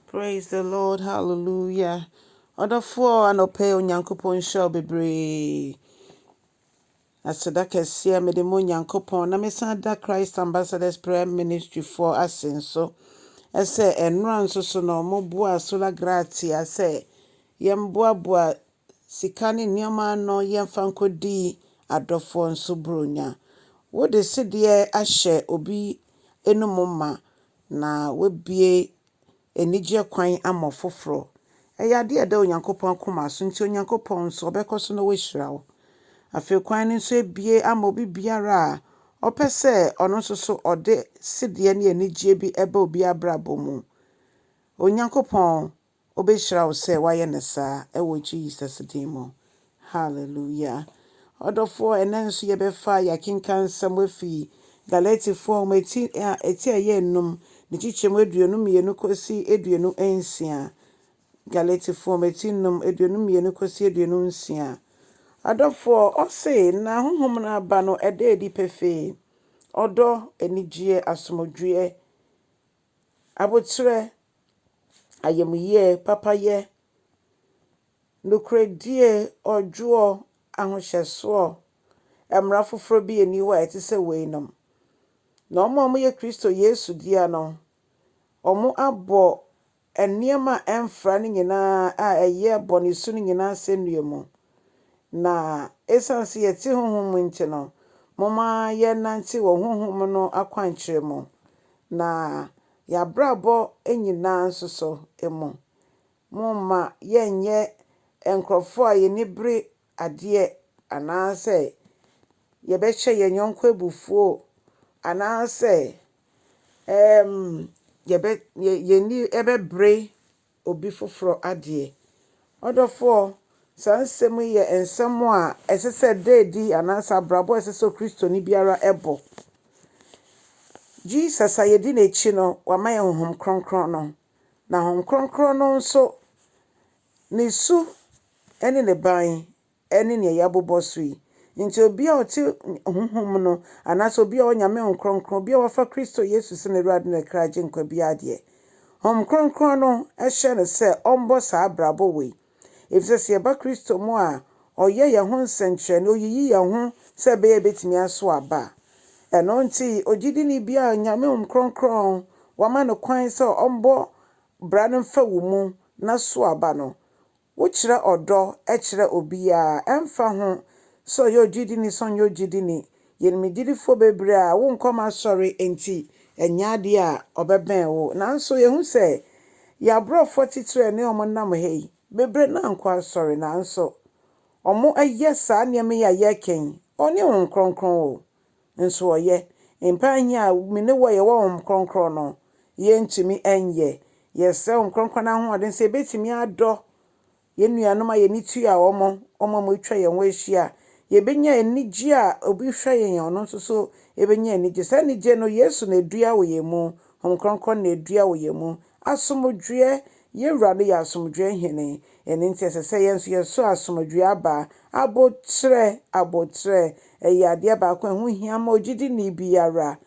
Praise the Lord hallelujah ɔdɔfoɔ anɔpɛ Onyankopɔn nhyira wo bebree aseda kɛseɛ mede mo Onyankopɔn na mesan da Christ Ambassadors Prayer Ministry foɔ ase nso ɛsɛ ɛnora nso so na ɔmo boa Sola Gratia sɛ yɛn boaboa sika ne nneɛma ano yɛn fa nkɔdi adɔfoɔ nso buronya wode sedeɛ ahyɛ obi enum ma Na wabue anigyeɛ kwan ama ɔfoforɔ. Ɛyɛ adeɛ a ɛda Onyankopɔn akoma so, nti Onyankopɔn nso, ɔbɛkɔ so na wahyira wo. Afei kwan no nso abue ama obi biara a ɔpɛ sɛ ɔno nso so ɔde sedeɛ ne anigyeɛ bi ba obi abrabɔ mu. Onyankopɔn Obehyira wo sɛ wayɛ no saa ɛwɔ Jesus din mu. Hallelujah. Ɔdɔfoɔ, ɛnɛ nso yɛbɛfa yɛakenkan nsɛm afi Galatifoɔ nwoma eti a eti a ɛyɛ enum, ne kyekyɛmu aduonu mmienu kɔsi aduonu nsia. Galatifoɔ nwoma eti num, aduonu mmienu kɔsi aduonu nsia. Adɔfoɔ, ɔse, na honhom no aba no ɛda adi pefee, ɔdɔ, anigyeɛ, asomdwoeɛ, Aboterɛ, ayamyie, papayɛ, nokorɛdie, ɔdwoɔ, ahohyɛsoɔ, mmara foforɔ bi nni hɔ a ɛte sɛ weinom. Na wɔn a wɔyɛ Kristo Yesu dea no, wɔabɔ nneɛma a ɛmfra no nyinaa a ɛyɛ bɔne su no nyinaa asɛnnua mu, Na esiane sɛ yɛte honhom mu nti no, momma yɛnnante wɔ honhom no akwankyerɛ mu, na yɛn abrabɔ nyinaa nso so mu. Momma yɛnnyɛ nkurɔfoɔ a yɛn ani bere adeɛ, anaasɛ yɛbɛhyɛ yɛn yɔnko abufuo, anaasɛ yɛn ani bɛbere obi foforɔ adeɛ. Ɔdɔfoɔ, saa nsɛm yi yɛ nsɛm a ɛsɛ sɛ ɛda adi anaasɛ abrabɔ a ɛsɛ sɛ Kristoni biara bɔ. Jesus a yɛdi n'akyi no, wama yɛn Honhom Kronkron no, na Honhom Kronkron no nso, ne su ne ne ban ne nea yɛabobɔ so yi. Enti obi a ɔte honhom no, anaasɛ obi a ɔwɔ Nyame Honhom Kronkron, obi a wafa Kristo Yesu sɛ n'Awurade ne kra Agyenkwa biara deɛ, Honhom Kronkron no hyɛ no sɛ ɔmbɔ saa abrabɔ wei. Efisɛ sɛ yɛba Kristo mu a, Ɔyɛ yɛn ho nsɛnkyerɛnne, Oyiyi yɛn ho sɛ ɛbɛyɛ a yɛbɛtumi aso aba. Ɛno nti, ogyidini biara a Nyame Honhom Kronkron wama no kwan sɛ ɔmbɔ bra no mfa wo mu na so aba no, Wokyerɛ ɔdɔ kyerɛ obiara, ɛmfa ho sɛ ɔyɛ ogyidini sɛ ɔnyɛ ogyidini. Yɛn mu gyidifo bebree a wonkɔ wɔn asɔre nti, ɛnyɛ ade a ɔbɛbɛn wo. Nanso yehu sɛ yɛn aborɔfo atitiriw a ɛne wɔn nam ha yi bebree no ankɔ asɔre, nanso wɔayɛ saa nneɛma yi a yɛreka yi, wɔne Honhom Kronkron wɔ nso ɔyɛ. Mpae hia a me ne wo yɛ wɔ Honhom Kronkron no, yɛrentumi nyɛ. Yɛsrɛ Honhom Kronkron no ahoɔden sɛ yɛbɛtumi adɔ yɛn nuanom a yɛn ani tua wɔn, wɔn a wɔatwa yɛn ho ahyia. Yɛbɛnya anigye a obi hwɛ yɛn a, ɔno nso nso bɛnya anigye. Saa anigye no, Yesu na ɛdua wɔ yɛn mu, Honhom Kronkron na ɛdua wɔ yɛn mu, Asomdwoeɛ, Yɛn Wura no yɛ Asomdwoeɛ Hene, ɛno nti ɛsɛ sɛ yɛn nso yɛso asomdwoeɛ aba. Aboterɛ, Aboterɛ, ɛyɛ adeɛ baako a ɛho hia ma ogyidini biara.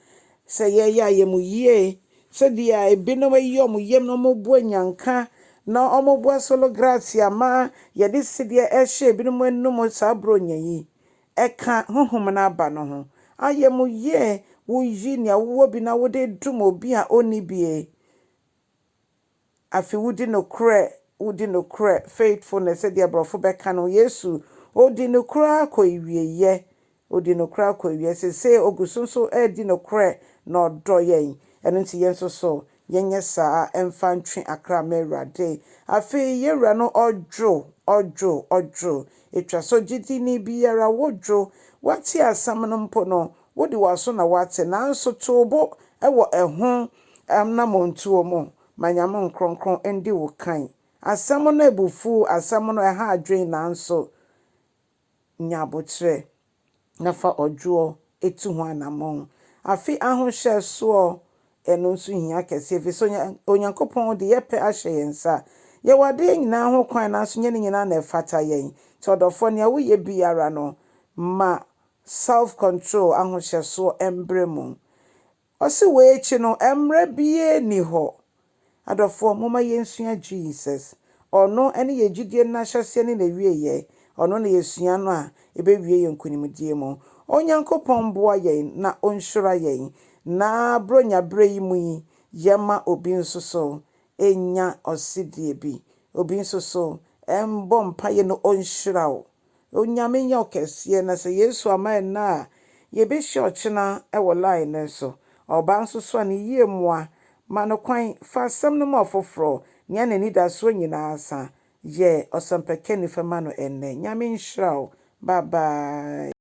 Sɛ yɛyɛ a, ɛyɛ mo yie. Sɛdeɛ ebinom ayi wɔn yam na wɔrebɔ anyanka na wɔrebɔ solo gratia ma yɛde sedeɛ rehyɛ ebinom anom saa borɔnya yi, ɛka honhom no aba no ho. Ayamuyie, Woyi nea wowɔ bi na wode dom obi a ɔnni bi. Afei wodi nokorɛ, wodi nokorɛ, faithfulness sɛdeɛ Aborɔfo bɛka no. Yesu, Ɔdi nokorɛ ara kɔ awieeɛ. Ɔdi nokorɛ ara kɔ awieeɛ. Seesei Ɔgu so nso redi nokorɛ na Ɔdɔ yɛn. Ɛno nti yɛn nso so Yɛnyɛ saa mfa ntwe akra mma Awurade. Afei yɛn Wura no ɔdwo, ɔdwo, ɔdwo. Etwa sɛ ogyidini biara wodwo. Woate asɛm no mpo no, wode w'aso na woate, nanso to wo bo wɔ ɛho anammɔntuo mu ma Nyame Nkronkron ndi wo kan. Asɛm no abufuw, asɛm no ɛha adwene, nanso. nya aboterɛ, na fa ɔdwoɔ tu ho anammɔn. Afe ahohyɛsoɔ, Ɛno nso hia kɛseɛ, ɛfiri sɛ Onyankopɔn de yɛn pɛ ahyɛ yɛn nsa. Yɛwɔ adeɛ nyinaa ho kwan, nanso ɛnyɛ ne nyinaa na ɛfata yɛn. Nti ɔdɔfoɔ, nea woyɛ biara no, ma self-control, ahohyɛsoɔ, mbrɛ mu. Ɔse wei akyi no mmra biaa nni hɔ. Adɔfoɔ momma yɛnsua Jesus. Ɔno ne yɛn gyidie no n'ahyɛseɛ ne n'awieɛ. Ɔno na yɛsua no a ɛbɛwie yɛn nkunimdie mu. Onyankopɔn mboa yɛn na ɔnhyira yɛn na Buronya berɛ yi mu yi yɛmma obi nso so ɛnya ɔsedie bi. Obi nso so ɛmbɔ mpaeɛ na ɔnhyira wo. Onyame nyɛ ɔkɛseɛ na sɛ Yesu ama ɛnnɛ a yɛbɛhyia ɔkyena wɔ line no so. Ɔbaa nso soa no yie mmoa, ma no kwan, fa asɛm no ma ɔfoforɔ, nea n'anidasoɔ nyinaa sa. Yɛ ɔsɛmpakani fa ma no ɛnnɛ. Nyame nhyira wo. Bye bye.